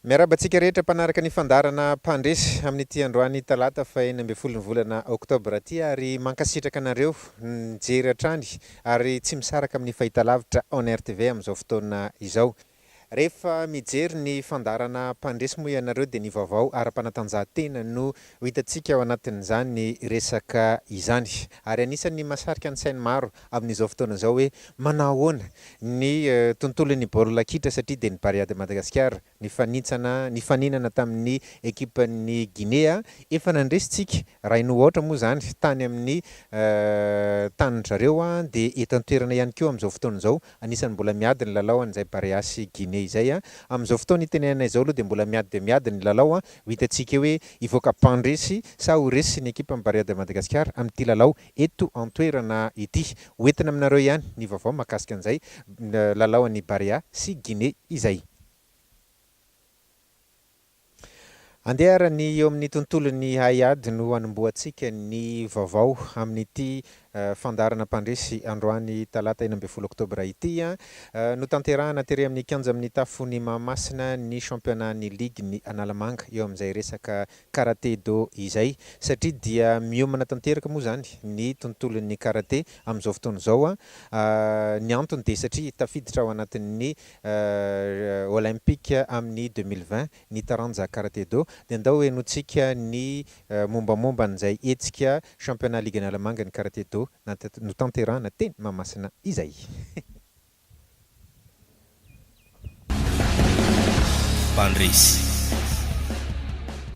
Miarahaba antsika rehetra mpanaraka ny fandaharana Mpandresy amin'ity androany talata faha enina ambin'ny folo ny volana oktobra ity ary mankasitraka anareo nijery hatrany ary tsy misaraka amin'ny fahitalavitra onrtv amin'izao fotoana izao. Rehefa mijery ny fandaharana Mpandresy moa ianareo dia ny vaovao ara-panatanjahantena no ho hitantsika ao anatin'izany resaka izany ary anisan'ny mahasarika ny sain'ny maro amin'izao fotoana izao hoe manao ahoana ny tontolon'ny baolina kitra satria dia ny Barea de Madagascar nifanintsana nifaninana tamin'ny ekipan'ny Ginea efa nandresintsika rain'o aotra moa izany tany amin'ny tanin-dry zareo dia eto an-toerana ihany koa amin'izao fotoana izao anisan'ny mbola miady ny lalao an'izay Barea sy Ginea izay amin'izao fotoana itenenana izao aloha dia mbola miady dia miady ny lalao ho hitantsika hoe hivoaka mpandresy sa ho resin'ny ekipan'ny Barea de Madagascar amin'ity lalao eto an-toerana ity. Ho entina aminareo ihany ny vaovao mahakasika an'izay lalao an'i Barea sy Guinée izay. Andeha ary ny eo amin'ny tontolon'ny haiady no hanombohantsika ny vaovao amin'ity fandaharana mpandresy androany talata enina ambin'ny folo oktobra ity. Notanterahana tery amin'ny kianja amin'ny tafon'i Mahamasina ny championnat-n'ny ligin'i Analamanga eo amin'izay resaka Karate Do izay, satria dia miomana tanteraka moa izany ny tontolon'ny karate amin'izao fotoana izao. Ny antony dia satria tafiditra ao anatin'ny Olympiques amin'ny deux mille vingt ny taranja Karate Do, dia andao henointsika ny mombamomba an'izay hetsika Championnat Ligue Analamanga ny Karate Do notanterahina teny Mahamasina izay. Mpandresy.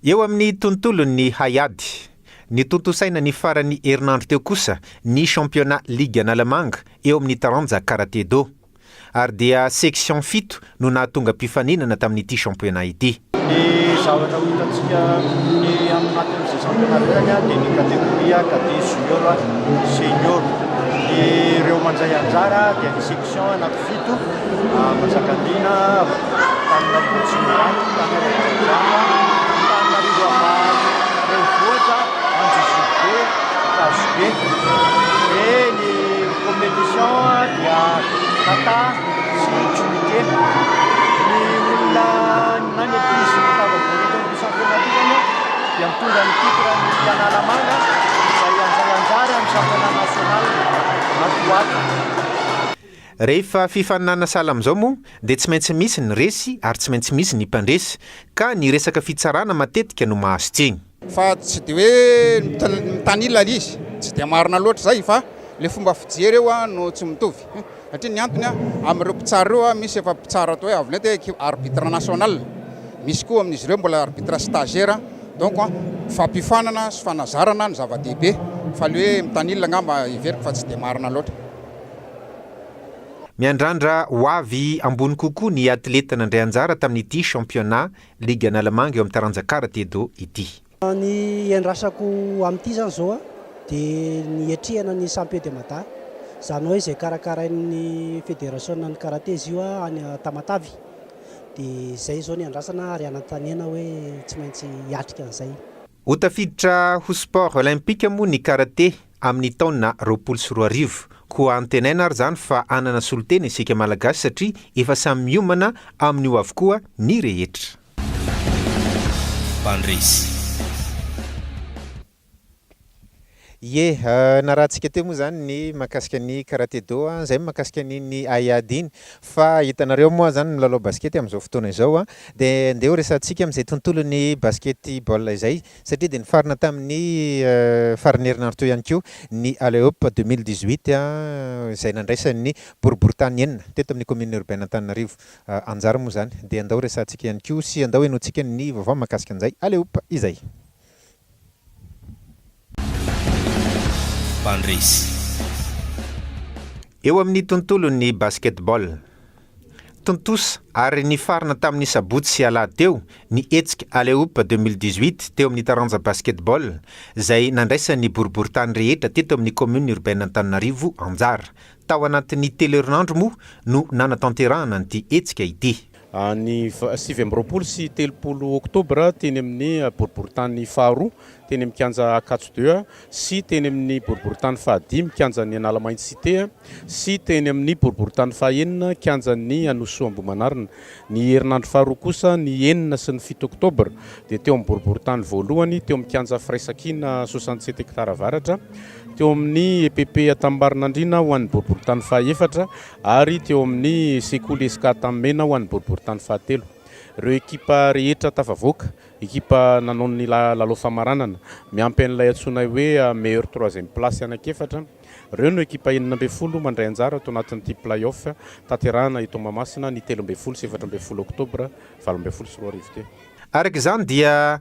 Eo amin'ny tontolon'ny haiady. Nitontosaina ny faran'ny herinandro teo kosa ny championnat ligue Analamanga eo amin'ny taranja karate-do. Ary dia section fito no nahatonga mpifaninana tamin'ity championnat ity. Ny zavatra ho hitantsika ny amin'ny anatin'izay championnat iray dia ny catégorie, cadet, junior, senior. Ny ireo mandray anjara dia ny section anaty fito, Manjakandriana, Antananarivo Atsimo iray, Antananarivo Avaratra, Antananarivo Ambany, Renivohitra, Anjozorobe, Ankazobe. Dia ny compétition dia kata. Zahatra miteny ny olona any ankizy mitavavory eto amin'ny Sampiona aty zany a dia mitondra ny titre ny Analamanga izay handray anjara amin'ny Championnat National ato ho ato. Rehefa fifaninana sahala amin'izao moa dia tsy maintsy misy ny resy ary tsy maintsy misy ny mpandresy ka ny resaka fitsarana matetika no mahazo tsiny. Fa tsy dia hoe mitanila ilay izy, tsy dia marina loatra izay fa ilay fomba fijery eo no tsy mitovy. Satria ny antony, amin'ireo mpitsara ireo, misy efa mpitsara atao hoe avo lenta, équipe arbitre national, misy koa amin'izy ireo mbola arbitre stagiaire, donc fampiofanana sy fanazarana no zava-dehibe fa ilay hoe mitanila angamba heveriko fa tsy dia marina loatra. Miandrandra ho avy ambony kokoa ny atleta nandray anjara tamin'ity championnat Ligue Analamanga eo amin'ny taranja Karate Do ity. Ny iandrasako amin'ity izany izao dia ny hiatrehana ny Champion de Mada. Izany hoe izay karakarain'ny Federasiona ny Karate izy io any Tamatave. Dia izay izao ny iandrasana ary anantanena hoe tsy maintsy hiatrika an'izay. Ho tafiditra ho sport olympique moa ny Karate amin'ny taona roapolo sy roa arivo. Koa antenaina ary izany fa hanana solontena isika Malagasy satria efa samy miomana amin'io avokoa ny rehetra. Mpandresy. Ie, narahantsika teo moa izany ny mahakasika ny karate do, izay ny mahakasika an'iny haiady iny. Fa hitanareo moa izany ny milalao basikety amin'izao fotoana izao dia andeha ho resahantsika amin'izay tontolon'ny basikety baolina izay. satria dia nifarana tamin'ny faran'ny herinandro teo ihany koa ny Alley-Up deux mille dix-huit izay nandraisan'ny boriboritany enina teto amin'ny Commune Urbaine Antananarivo anjara moa izany dia andao resahantsika ihany koa sy andao henointsika ny vaovao mahakasika an'izay Alley-Up izay. Mpandresy eo amin'ny tontolon'ny Basketball. Tontosa ary nifarana tamin'ny sabotsy sy alahady teo ny hetsika Alley-Oop deux mille dix-huit teo amin'ny taranja Basketball izay nandraisan'ny boriboritany rehetra teto amin'ny Commune Urbaine Antananarivo anjara. Tao anatin'ny telo herinandro moa no nanatanterahana an'ity hetsika ity. Ny sivy amby roapolo sy telopolo oktobra teny amin'ny boriboritany faharoa teny amin'ny kianja Ankatso deux sy teny amin'ny boriborintany fahadimy kianjan'ny Analamainty Cité sy teny amin'ny boriborintany fahenina kianjan'ny Anosoa Ambohimanarina. Ny herinandro faharoa kosa, ny enina sy ny fito oktobra, dia teo amin'ny boriborintany voalohany teo amin'ny kianja firaisankina soixante-sept hectares avaratra, teo amin'ny epp Antanimbarinandriana ho an'ny boriborintany fahaefatra ary teo amin'ny sekoly Escate Amena ho an'ny boriborintany fahatelo. Ireo ekipa rehetra tafavoaka Ekipa nanao ny lalao famaranana, miampy an'ilay antsoinay hoe meilleur troisième place anankiefatra. Ireo no ekipa enina ambin'ny folo mandray anjara ato anatin'ity play-off tanterahana eto Mahamasina ny telo ambin'ny folo sy efatra ambin'ny folo oktobra valo ambin'ny folo sy roa arivo teo. Araka izany dia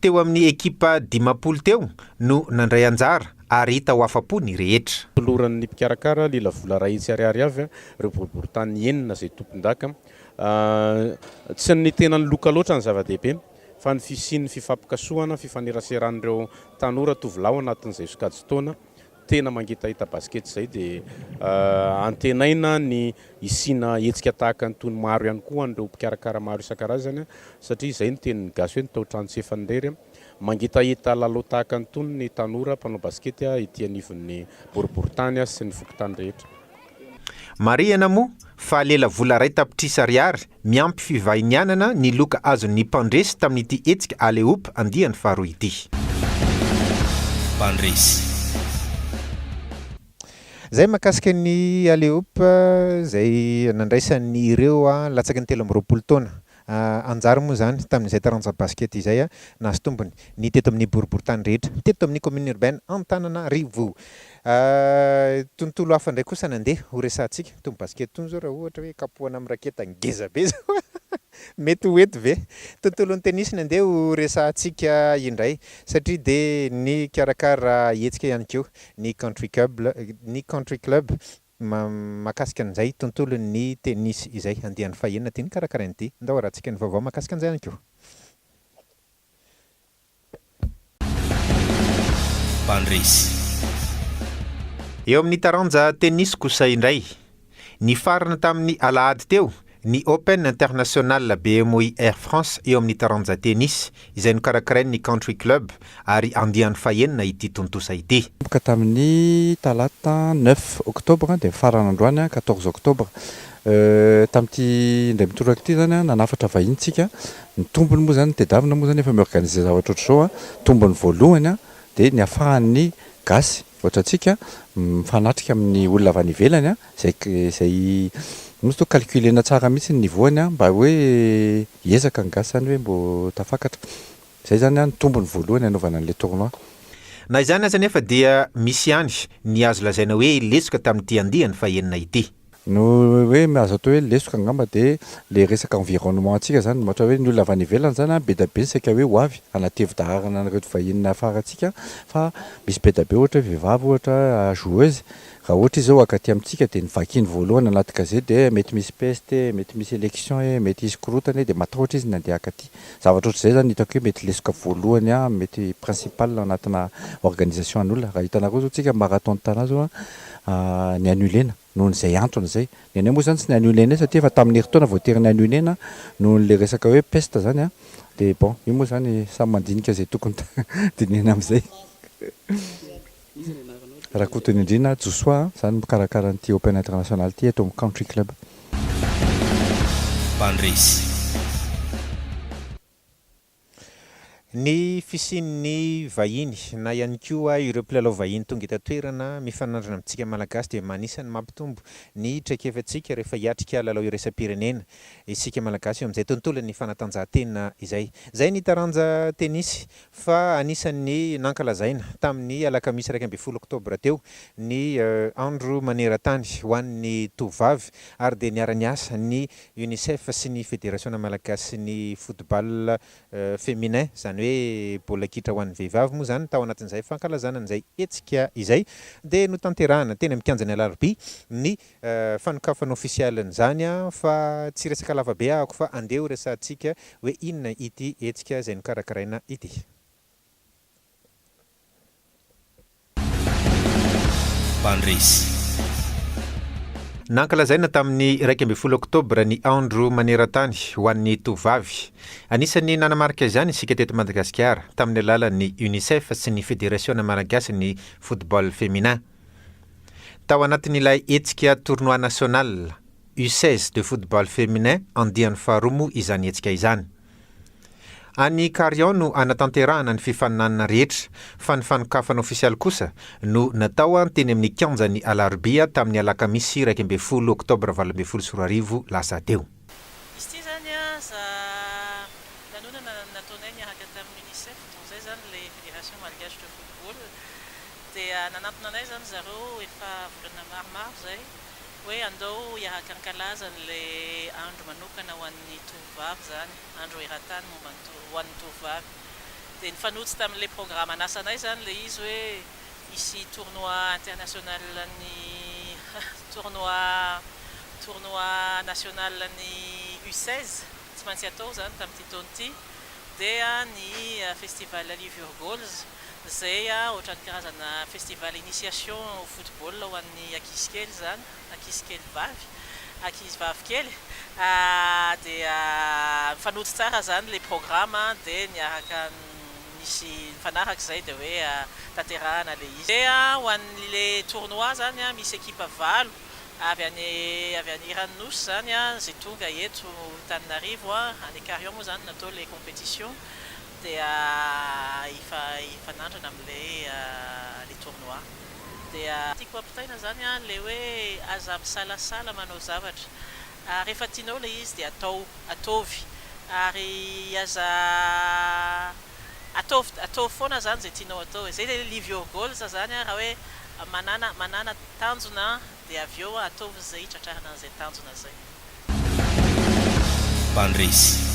teo amin'ny ekipa dimampolo teo no nandray anjara ary hita ho afa-po ny rehetra. Noloran'ny mpikarakara lilavola iray hetsy ariary avy ireo boriborintany enina izay tompondaka. Tsy ny tenan'ny loka loatra no zava-dehibe fa ny fisian'ny fifampikasohana, fifaneraseran'ireo tanora tovolahy ao anatin'izay sokajin-taona tena mangetaheta basikety izay dia antenaina ny hisiana hetsika tahaka an'itony maro ihany koa ho an'ireo mpikarakara maro isan-karazany satria izay ny tenin'ny gasy hoe ny taotrano tsy efa nirery mangetaheta lalao tahaka an'itony ny tanora mpanao basikety ety anivon'ny boriboritany sy ny fokontany rehetra. Marihana moa fa lela vola iray tapitrisa ariary miampy fivahinianana ny loka azon'ny mpandresy tamin'ity hetsika Alehoop andiany faharoa ity. Mpandresy. Izay mahakasika ny Alehoop izay nandraisan'ireo latsaky ny telo amby roapolo taona Anjara moa izany tamin'izay taranja basket izay nahazo tombony ny teto amin'ny boriborintany rehetra teto amin'ny commune urbaine Antananarivo. Tontolo hafa indray kosa nandeha ho resahantsika. Itony basket itony izao raha ohatra hoe kapohana amin'ny raketa ngeza be izao mety ho eto ve? Tontolon'ny tennis no andeha ho resahantsika indray satria dia nikarakara hetsika ihany koa ny country cub, ny country club. Mahakasika an'izay tontolon'ny tennis izay andiany fahenina ity nokarakarain'i Di. Ndao harahantsika ny vaovao mahakasika an'izay ihany koa. Mpandresy. Eo amin'ny taranja tennis kosa indray, nifarana tamin'ny alahady teo Ny Open International BMWI Air France eo amin'ny taranja Tennis, izay nokarakarain'ny Country Club ary andiany fahenina ity tontosa ity. Nanomboka tamin'ny talata neuf octobre dia nifarana androany quatorze octobre. Tamin'ity indray mitoraka ity izany nanafatra vahiny isika. Ny tombony moa izany, ny tedavina moa izany efa mi-organiser zavatra ohatr'izao. Tombony voalohany dia ny ahafahan'ny gasy ohatra antsika mifanatrika amin'ny olona avy any ivelany Izay izay Misy toa calculena tsara mihitsy ny niveau-ny an! Mba hoe hiezaka ny gasy izany hoe mbo tafakatra. Izay izany an ny tombony voalohany hanaovana an'ilay tournoi. Na izany aza anefa dia misy ihany ny azo lazaina hoe lesoka tamin'ity andiany fahenina ity. No hoe azo atao hoe lesoka angamba dia ilay resaka environnement-ntsika izany. Ohatra hoe ny olona avy any ivelany izany an, be dia be ny saika hoe ho avy hanatevy daharana an'ireto vahiny nahafarantsika fa misy be dia be ohatra hoe vehivavy ohatra joueuse Raha ohatra izy zao haka aty amintsika dia ny vakiny voalohany anaty gazety dia hoe mety misy peste e, mety misy election e, mety hisy korontana e dia matahotra izy ny handeha haka aty. Zavatra ohatr'izay zany hitako hoe mety lesoka voalohany an, mety principal anatina organisation an'olona. Raha hitanareo zao tsika marathon Tana zao an, ni-annulena noho izay antony izay. Ny anay moa zany tsy ni-annulena satria efa tamin'ny herintaona voatery ni-annulena noho ilay resaka hoe peste zany an, dia bon io moa zany samy mandinika izay tokony dinihina amin'izay. Rakotonindrina Josoa a, za no mikarakara an'ity Open International ity eto amin'ny Country Club. Mpandresy. Ny fisian'ny vahiny na ihany koa ireo mpilalao vahiny tonga eto an-toerana mifanandrina amintsika Malagasy dia anisan'ny mampitombo ny traikefantsika rehefa hiatrika lalao iraisam-pirenena isika Malagasy eo amin'izay tontolon'ny fanatanjahantena izay. Izay ny taranja tenisy fa anisan'ny nankalazaina tamin'ny alakamisy iraika ambin'ny folo oktobra teo ny Andro maneran-tany ho an'ny tovovavy ary dia niara-niasa ny Unicef sy ny Federasiona malagasin'ny football féminin, izany hoe baolina kitra ho an'ny vehivavy moa izany, tao anatin'izay fankalazana an'izay hetsika izay dia notanterahina teny amin'ny kianjan'ny Alarobia ny fanokafana ofisialy an'izany an, fa tsy resaka lava be ahako fa andeha ho resahantsika hoe inona ity hetsika izay nokarakaraina ity. Mpandresy. Nankalazaina tamin'ny iraika ambin'ny folo oktobra ny andro maneran-tany ho an'ny tovovavy. Anisan'ny nanamarika izany isika teto Madagasikara, tamin'ny alalan'ny Unicef sy ny Federasiona Malagasin'ny Football Féminin. Tao anatin'ilay hetsika Tournoi National U seize de Football Feminin andiany faharoa moa izany hetsika izany. Any Carion no hanatanterahana ny fifaninanana rehetra fa ny fanokafana ofisialy kosa no natao teny amin'ny kianjan'ny Alarobia tamin'ny alakamisy iraika ambin'ny folo oktobra valo ambin'ny folo sy roa arivo lasa teo. Izy ity izany aza lanonana nataonay niaraka tamin'ny Unicef, donc izay izany ilay Fédération Malgache de Football, dia nanantona anay izany zareo efa volana maromaro izay hoe andao hiaraka hankalaza an'ilay andro manokana ho an'ny tovovavy izany, andro eran-tany momba ny, ho an'ny tovovavy. Dia nifanojo tamin'ilay programan'asanay izany ilay izy hoe. Hisy tournoi international ny tournoi tournoi national ny U seize tsy maintsy atao izany tamin'ity taona ity dia ny festival Livure Goals izay ohatran'ny karazana festival initiation ho football ho an'ny ankizy kely izany ankizy kely vavy ankizy vavy kely dia mifanojo tsara izany ilay programme dia miaraka Misy mifanaraka izay dia hoe tanterahana ilay izy. Dia ho an'ilay tournoi izany misy ekipa valo avy any avy any Iran'ny Nosy izany izay tonga eto Antananarivo. Any Ikarion moa izany no natao ilay competition dia hifa hifanandrina amin'ilay ilay tournoi. Dia tiako ampitaina izany ilay hoe aza misalasala manao zavatra. ary rehefa tianao ilay izy dia atao, ataovy, ary aza ataovy, ataovy foana izany izay tianao atao e, izay ilay live your goals izany an, raha hoe manana, manana tanjona dia avy eo ataovy izay hitratrarana an'izay tanjona izay. Mpandresy.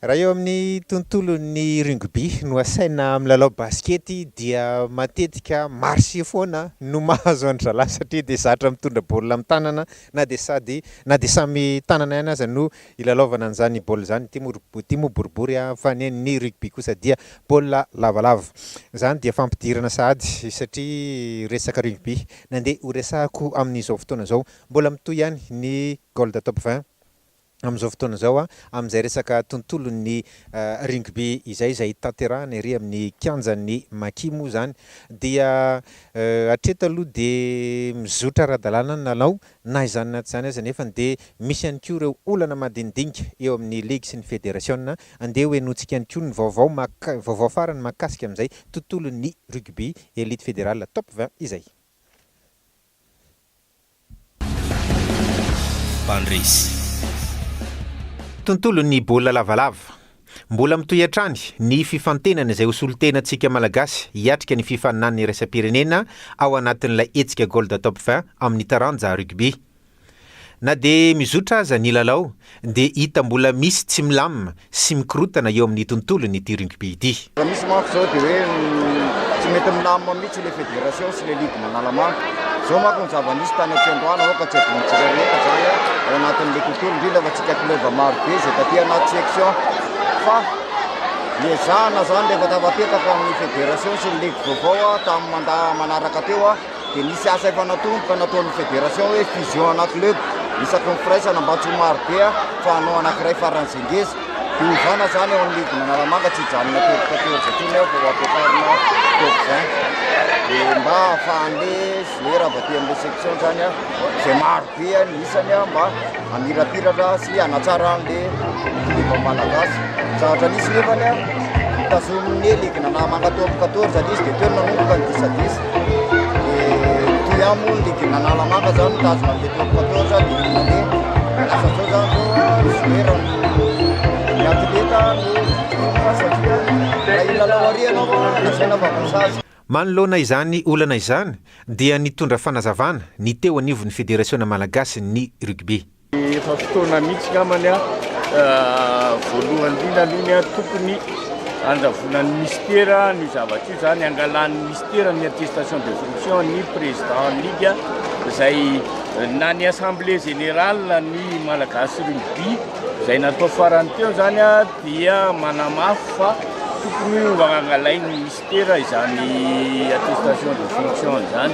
Raha eo amin'ny tontolon'ny rugby no asaina milalao basikety dia matetika marcher foana no mahazo an-dRalahy satria dia zatra mitondra baolina amin'ny tanana na dia sady na dia samy tanana ihany aza no ilalaovana an'izany baolina izany, ity moa ity moa boribory an, fa ny ny rugby kosa dia baolina lavalava. Izany dia fampidirana sahady satria resaka rugby nandeha horesahako amin'izao fotoana izao. Mbola mitohy ihany ny Gold Top vingt amin'izao fotoana izao amin'izay resaka tontolon'ny Rugby izay, izay tanterahina ery amin'ny kianjan'ny Maki moa izany dia hatreto aloha dia mizotra ara-dalàna ny lalao na izany na tsy izany aza nefany dia misy ihany koa ireo olana madinidinika eo amin'ny ligy sy ny federasiona. Andeha ho henointsika ihany koa ny vaovao mak vaovao farany mahakasika amin'izay tontolon'ny Rugby Elite Federal Top vingt izay. Mpandresy. Tontolon'ny baolina lavalava. Mbola mitohy hatrany ny fifantenana izay ho solontenantsika Malagasy hiatrika ny fifaninanana iraisam-pirenena ao anatin'ilay hetsika Gold Top vingt amin'ny taranja Rugby. Na dia mizotra aza ny lalao Dia hita mbola misy tsy milamina sy mikorotana eo amin'ny tontolony ity rugby ity. Raha misy manko izao dia hoe tsy mety milamina mihitsy ilay federation sy ilay ligue manala-maso. Izao manko ny zava-nisy tany aty androany aoka tsy hadinontsika rehetra izany ao anatin'ilay tontolo indrindra fa tsika club maro be izay taty anaty section fa niezahana izany rehefa tafapetraka ny federation sy ny ligue vaovao tamin'ny mandat manaraka teo dia nisy asa efa nataony ka nataon'ny fédération hoe fusion ana club isaky ny firaisana mba tsy ho maro be fa hanao anakiray faran'izay ngeza dia hovana zany eo amin'ny ligue nanalamanga tsy hijanona telo quatorze atsony eo fa ho ampiakarina top vingt dia mba ahafahan'le joueur avy aty amin'le section zany a izay maro dia ny isany mba hamirapiratra sy hanatsara an'ilay filoha malagasy. Zavatra nisy nefany tazomin'ny ligina na mankatoa quatorze anie izy dia teo nanomboka ny disadisa. Dia toy ihany moa ny ligina Analamanga izany mitazona an'ilay teo quatorze dia rehefa mandeha lasa zao izany zao zoerany ny atleta no vitrina satria raha ilalaoariana fa lazaina fa vazaha. Manoloana izany olana izany dia nitondra fanazavana ny teo anivon'ny Federasiona Malagasy ny Rugby. Efa fotoana mihitsy namany voalohany indrindra aloha ny tokony handravonan'ny Mister ny zavatra io zany hangalan'ny Mister ny attestation de fonction ny Président ligue zay na ny assemblée générale ny Malagasy Rugby zay natao farany teo zany dia manamafy fa tokony ho angalain'ny Dokotera izany attestation de fonction izany.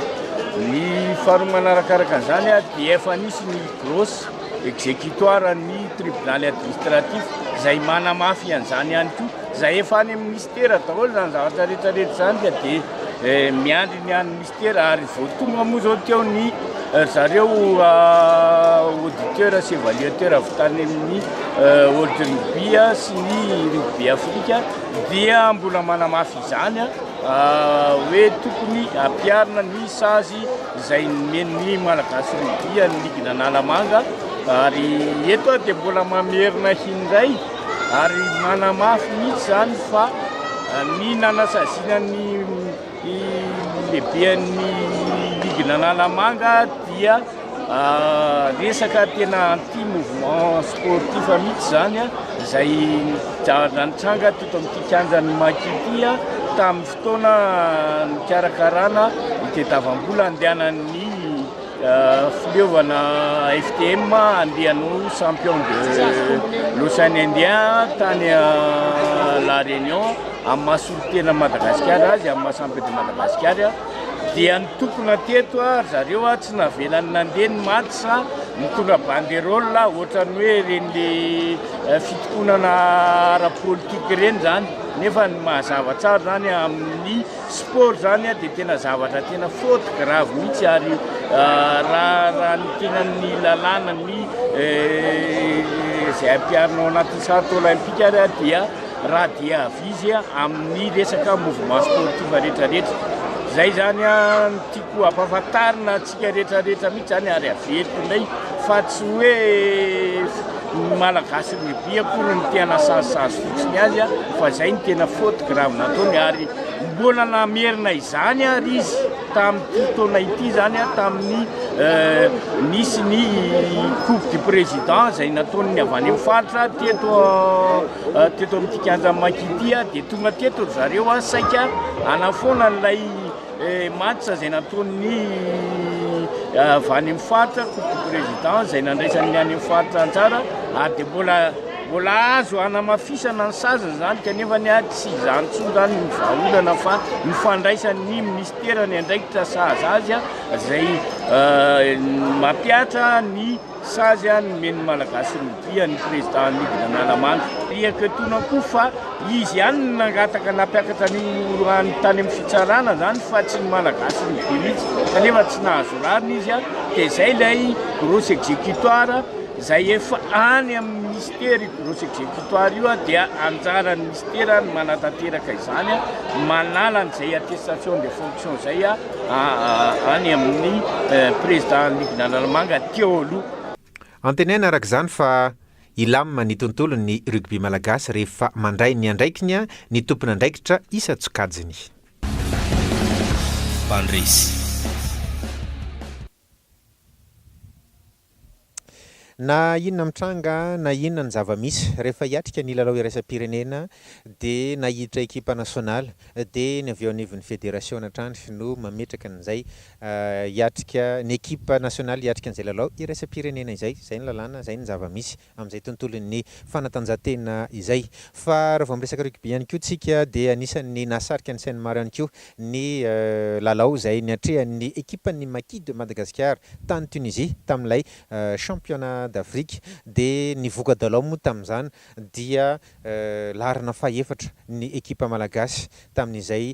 Ny faharoa manarakaraka an'izany dia efa nisy ny grosse exécutoire an'ny tribonaly administratif izay manamafy an'izany ihany koa izay efa any amin'ny ministera daholo izany zavatra rehetra rehetra izany ka dia eh, miandry ny an'ny Dokotera ary vao tonga moa zao teo ny ry zareo auditeur sy evaluateur avy tany amin'ny World Rugby sy ny Rugby Afrique dia mbola manamafy izany hoe tokony ampiharina ny sazy izay nomen'ny Malagasy Rugby an'ny ligin'Analamanga ary eto aho dia mbola mamerina indray ary manamafy mihitsy izany fa ny nanasaziana ny Ny lehiben'ny ligina Analamanga dia resaka tena anti mouvement sportif mihitsy izany izay nitranga teto amin'ity kianjan'ny Maki ity tamin'ny fotoana nikarakarana ny tadiavam-bola handehanan'ny Fileovana FTM andiany ho champion de l'Ocean Indien tany La Réunion amin'ny maha solontenan'i Madagasikara azy amin'ny maha champion de Madagasikara dia nitokona teto ry zareo tsy navelany nandeha ny match nitondra banderole ohatran'ny hoe ireny le fitokonana ara-politika ireny izany nefa ny mazava tsara izany amin'ny Sport zany dia tena zavatra tena faute grave mihitsy ary raha ny tena ny lalàna ny izay ampiharinao anatin'ny centre olympique ary dia raha dia avy izy amin'ny resaka mouvement sportif rehetrarehetra. Izay zany ny tiako hampafantarina. Tsika rehetra rehetra mihitsy zany ary averiko ndray fa tsy hoe ny malagasy lehibe akory ny tena sazisazy fotsiny azy fa zay ny tena faute grave nataony ary mbola namerina izany ary izy tamin'ity taona ity zany a tamin'ny euh, nisy ny coupe du président zay nataon'ny avy any amin'ny faritra teto euh, teto amin'ity kianja makity dia tonga teto zareo a saika anafoana ilay Mats izay nataon'ny avy any amin'ny faritra, coupe du président izay nandraisany ny any amin'ny faritra anjara ary dia mbola mbola azo hanamafisana ny sazy izany kanefa ny ahy tsy izany intsony izany ny vahaolana fa ny fandraisan'ny minisitera ny andraikitra sahaza azy izay mampiatra ny Sazy an nomeny ny Malagasy ny dia ny Président nidina Analamanga. Riaka etoana koa fa izy ihany no nangataka nampiakatra ny orohany tany amin'ny fitsarana zany fa tsy ny Malagasy ny dia mihitsy kanefa tsy nahazo rariny izy an dia izay ilay Grosse Executoire izay efa any amin'ny Ministera io Grosse Executoire io an dia anjaran'ny Ministera ny manatanteraka izany an manala an'izay attestation de fonction izay an any amin'ny Président Nigina Analamanga teo aloha. Antenaina araka izany fa hilamina ny tontolon'ny rugby malagasy rehefa mandray ny andraikiny ny tompon'andraikitra isan-tsokajiny. Mpandresy. Na inona mitranga na inona ny zava-misy, rehefa hiatrika ny lalao iraisam-pirenena dia na hiditra ekipa nasionaly dia ny avy eo anivon'ny federasiona hatrany no mametraka an'izay hiatrika, ny ekipa nasionaly hiatrika an'izay lalao iraisam-pirenena izay. Izay ny lalàna, izay ny zava-misy. amin'izay tontolon'ny fanatanjahantena izay. Fa raha vao miresaka rugby ihany koa isika dia anisan'ny nahasarika ny sain'ny maro ihany koa ny lalao izay niatrehan'ny ekipan'ny Maki de Madagascar tany Tunisie tamin'ilay Championnat d'Afrique. Dia ny voka-dalao moa tamin'izany dia laharana faha-efatra ny ekipa malagasy tamin'izay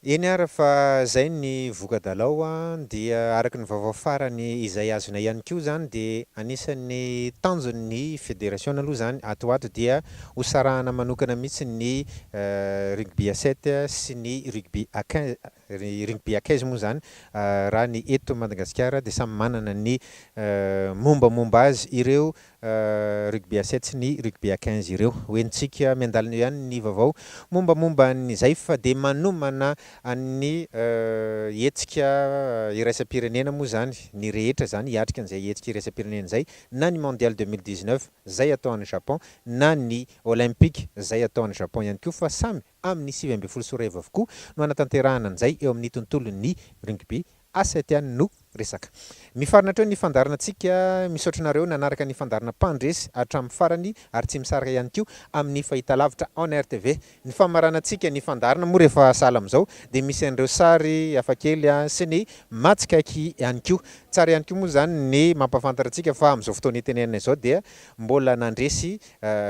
Eny ara fa zay ny voka-dalao a! Dia araka ny vaovao farany izay azonay ihany koa zany dia anisan'ny tanjon ny federasiona aloha zany ato ho ato dia ho sarahana manokana mihitsy ny rugby à sept sy ny rugby à quinze, ny rugby à quinze moa zany raha ny eto Madagasikara dia samy manana ny mombamomba azy ireo rugby à sept sy ny rugby à quinze ireo. Hoentintsika miandalina eo ihany ny vaovao mombamomba an'ny Zaif dia manomana an'ny hetsika iraisam-pirenena moa izany ny rehetra izany hiatrika an'izay hetsika iraisam-pirenena izay na ny Mondial deux mille dix-neuf izay atao any Japon na ny Olympic izay atao any Japon ihany koa fa samy amin'ny sivy ambin'ny folo sy roa arivo avokoa no hanatanterahana an'izay eo amin'ny tontolon'ny rugby, asa ety ihany no resaka. Mifarana hatreo ny fandaharanantsika, misaotra anareo nanaraka ny fandaharana mpandresy hatramin'ny farany ary tsy misaraka ihany koa amin'ny fahitalavitra onrtv. Ny famaranantsika ny fandaharana moa rehefa sahala amin'izao dia misy an'ireo sary hafakely sy ny mahatsikaiky ihany koa. Tsara ihany koa moa izany ny mampahafantatra antsika fa amin'izao fotoana itenenana izao dia mbola nandresy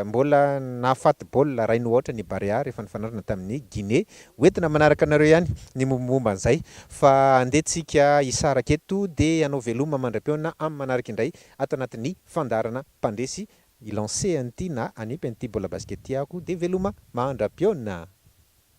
Mbola nahafaty baolina iray noho aotra ny Barea rehefa nifanandrina tamin'ny Guinée. Ho entina manaraka anareo ihany ny mombamomba an'izay fa andeha tsika hisaraka eto dia hanao veloma mandra-pihaonana amin'ny manaraka indray ato anatin'ny fandaharana Mpandresy. Hi-lancer an'ity na hanipy an'ity baolina basket ity aho koa dia veloma mandra-pihaonana!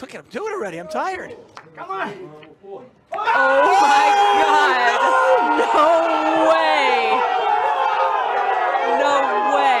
Look at him do it already. I'm tired. Come on. Oh my God. No way. No way.